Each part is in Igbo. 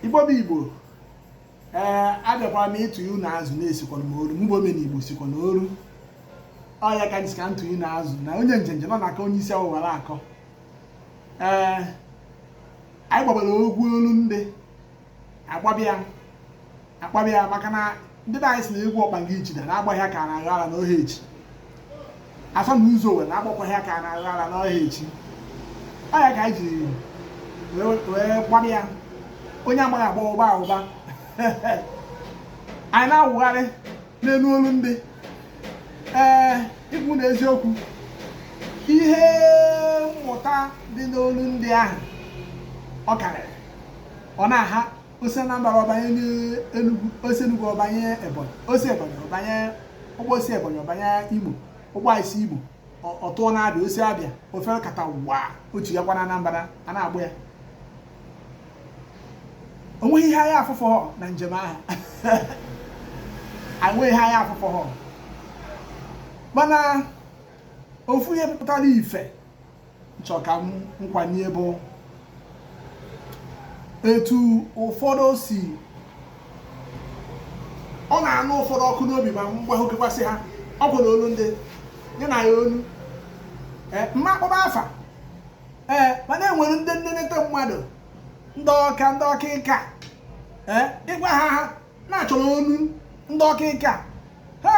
igbo bụ igbo ee abịakwara m ịtụ ihu na azụ na-esikwa m oru mgbe omena igbo sikwa na oru ọ ya ka m sị ka m tụọ ihu na azụ na onye njenje na ọ na-aka onye isi awọ mara akọ ee anyị gbabịara ogwu olu ndị agbabịa agbabịa maka na ndị be anyị sị na egwu ọkpanga ijida na agbaghị aka na agha ala n'ohe echi afọ na ụzọ owere agbakwaghị aka na agha ala n'ohe echi ọ ya ka anyị ji wee gbabịa onye amaghị agba wụba awụba anyị na-awụgharị n'elu olu ndị ee ịgwa unu eziokwu ihe mmụta dị n'olu ndị ahụ ọ karịrị ọ na-aha o si Anambra ọ banye n'Enugu o si Enugu ọ banye Ebonyi o si Ebonyi ọ banye ụgbọ o si Ebonyi ọ banye Imo ụgbọ esi Imo ọ tụọ n'Abịa o si Abịa o fekatawa ọ tụakwa na Anambra a na-agba ya o nweghị ihe anya afụhọ na njem ahụ e nweghị ihe anya afụhọ mana ofu ihe pụtara ife chọ ka m kwanye bụ etu ụfọdụ si ọ na-anụ ụfọdụ ọkụ n'obi ma mgba okekwasị ha ọ bụ na olu ndị nye na ya olu eh, m ma akpọba afa ee eh, mana e nwere ndị nnenete mmadụ ndị ọka ndị ọka ịka eh, ị gwa ha ha na-achọrọ olu ndị ọ dị ka e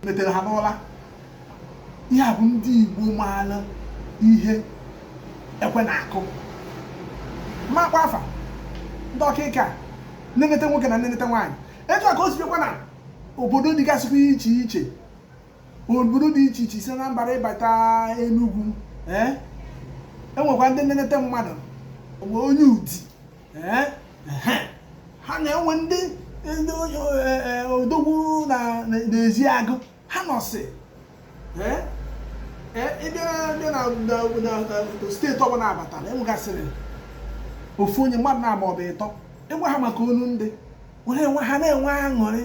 metere ha n'ụla ihe a bụ ndị Igbo maara ihe ekwe na-akụ makwa afa ndị ọkịka nenete nwoke na nenete nwaanyị etu a ka o si dịkwa na obodo dịgasịkwa iche iche obodo dị iche iche si n'Anambra ị bata Enugu e nwekwa ndị nenete mmadụ onye Udi ha na-enwe ndị ndị e, e, odogwu na Ezeagu ha nọsị ị bịa na steeti ọbụla a batara e nwegasịrị ofu onye mmadụ naabọ ọbụ ịtọ ị gwa ha maka olu ndị ha na-enwe aṅụrị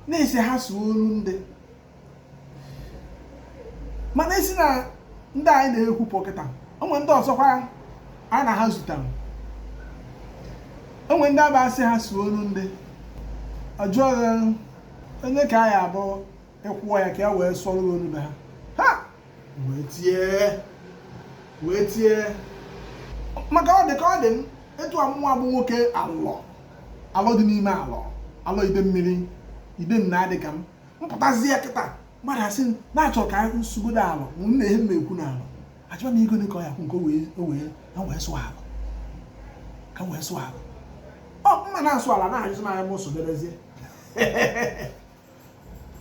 na a sị ha sụọ olu ndị mana e si na ndị anyị na-ekwu pụọ kịta o nwee ndị ọzọkwa anyị na ha zutere o nwee ndị a ga-asị ha sụọ olu ndị ọ jụọ one ka ọ ya-abụ ị kwụọ ya ka ya wee sụọrọ olu be ha ha wee tie wee tie maka ọ dị ka ọ dị m etu a mụnwa bụ nwoke Alọ Alọ dị n'ime Alọ Alọ Idemmiri Ide nna ọ dị ka m mpụtazi ya kịta mmadụ asị na-achọ ka m sụgodu ala na nna ihe mma ekwu n'ala achọba m ego ka ọ ya kwụ nke o wee na wee sụọ ala ka wee sụọ ala ọ mma na-asụ ala na-ajụzi m anya m sụdebezie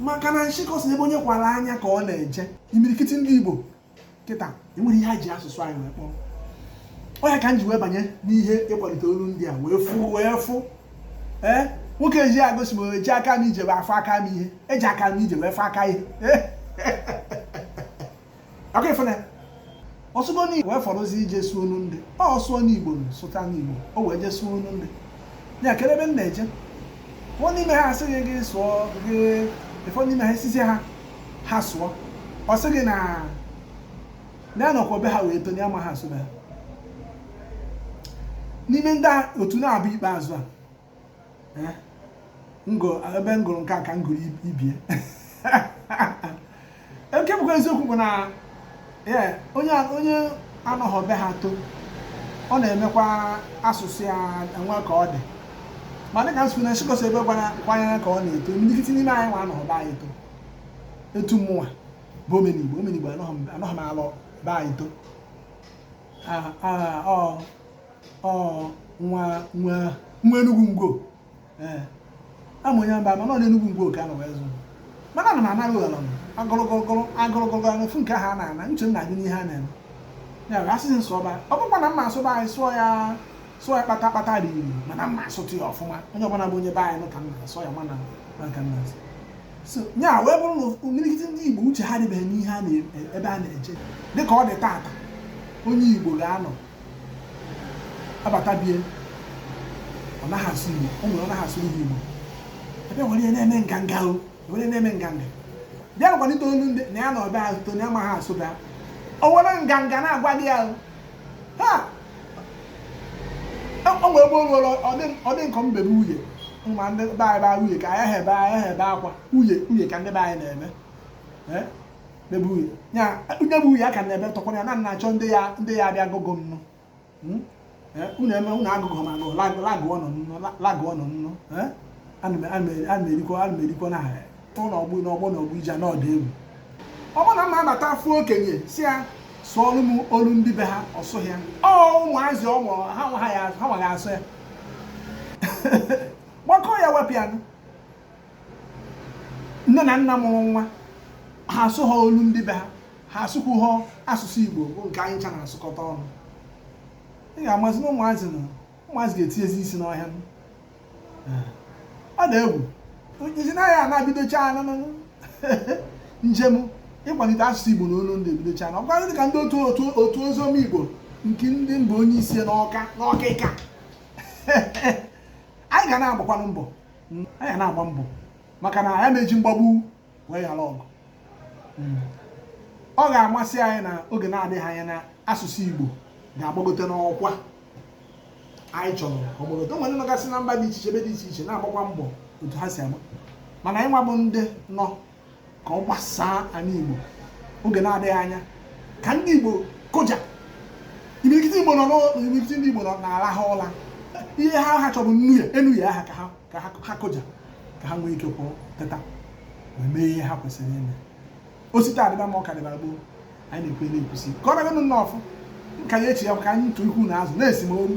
maka na nshịkọ sị ebe onye kwara anya ka ọ na-eje imirikiti ndị Igbo kịta enwere ihe ha ji asụsụ anyị wee kpọrọ ọ ya ka m ji wee banye n'ihe ịkwalite olu ndị a wee fụ wee fụ ee eh? nwoke eji agosi m eji aka m ije wee afọ aka m ihe eji aka m ije wee fọ aka ihe ọkụ ifụna ọ sụgo n'igbo wee fọrọzi ije sụọ olu ndị ọ sụọ n'igbo sụta n'igbo o wee jee sụọ olu ndị ya kere ebe m na-eje nwa n'ime ha asịghị gị sụọ gị ụfọdụ n'ime ha esizi ha ha sụọ ọ sị gị na na anọkwa be ha wee to na ya amaha asụ be ha n'ime ndị otu na-abụ ikpeazụ a eh, ebe m gụrụ nke a ka m gụrụ ibie nke bụkwa eziokwu bụ na ee onye onye anọghọ be ha to ọ na-emekwa asụsụ ya enwe ka ọ dị ma dịka m sị na nshịkọ sị ebe kwara anya ka ọ na-eto imirikiti n'ime anyị nwa anọghọ be anyị to etu mụnwa bụ omenigbo omenigbo anọghọ m ala be anyị to ọ nwa nwa nwa enugwu ngwo ee ama onye mba mana ọ n'enugwu ngwo ka a nọ wee zụ mana ana m anara ụlọ m agụrụgụrụgụrụ agụrụgụrụ n'ofu nke ahụ a na-ana uche m na-adị n'ihe a na-eme ya bụ a sị sị m sụba ọ bụkwa na mma asụ be anyị sụọ ya sụọ ya kpata kpata dị iri mana mma asụtụ ya ọfụma onye ọbụla bụ onye be anyị nụ ka m na-asụ ya mana na ka m na-asụ so ya wee bụrụ na imirikiti ndị igbo uche ha dịbeghị n'ihe a n'ebe a na-eje dịka ọ dị tata onye igbo ga-anọ abata bie ọ naghị asụ Igbo o nwere ọ naghị asụ ndị Igbo ebe were ya na-eme nganga o were na-eme nganga bịa kwalite olu ndị na ya na ọbịa azụto na ya amaghị asụ be ha o were nganga na-agwa gị ya ha o nwere ebe o nwere ọ dị nkọ m bebe uye ma ndị be anyị baa uye ka anyị ha ebe anyị ha ebe akwa uye uye ka ndị be anyị na-eme bebe uye ya onye bụ uye a ka na-ebe tọkwara ya na na-achọ ndị ya ndị ya abịa gogo nnụ hmm? eh, unu eme unu agụgụ ma agụ lagụọ nọ nnụ lagụọ nọ nnụ eh? ana m erikwa ana m erikwa na ụlọ ọgbụ na ọgbọ na ọgbụ ije n'ọdụ egwu ọ bụrụ na mma abata afụ okenye sị ya sụọrụ m olu ndị be ha ọ sụghị ya ọ ụmụazị ọ mụrụ ha amaghị asụ ya gbakọọ ya wepụ ya nne na nna mụrụ nwa ha asụ ha olu ndị be ha ha asụkwu ha asụsụ igbo bụ nke anyị ncha na-asụkọta ọnụ ị ga-amazi na ụmụazị na ụmụazị ga-etinyezi isi n'ọhịa ọ dị egwu isi naghị a na-ebidocha njem ịkwalite asụsụ igbo na olu ndị ebidocha na ọkwa dị ka ndị otu otu otu oziọma igbo nke ndị m bụ onye isi n'ọka n'ọka ka anyị ga na-agbakwanụ mbọ hmm, anyị na-agba mbọ maka na a naghị eji mgbagbu wee ghara ọgụ hmm. ọ ga-amasị anyị na oge na-adịghị anya na asụsụ Igbo ga-agbagote n'ọkwa anyị chọrọ ọ gbagote o nwere nọgasị na mba dị iche iche ebe dị iche iche na-agbakwa mbọ otu ha si agba mana anyị nwa bụ ndị nọ ka ọ gbasaa anị Igbo oge na-adịghị anya ka ndị Igbo kụja imirikiti Igbo nọ n'imirikiti ndị Igbo nọ na-alaha ụla ihe ha ha chọ bụ nnu ya enu ya aka ka ha kụja ka ha nwee ike kwụrụ teta wee mee ihe ha kwesịrị ime o si taa dịba mma ọ ka dịba gboo anyị na-ekwe na-ekwusi ka ọ naganụ nnọọ ọfụ ka ya echi ya ka anyị ntụ ikwu na azụ na-esi m oru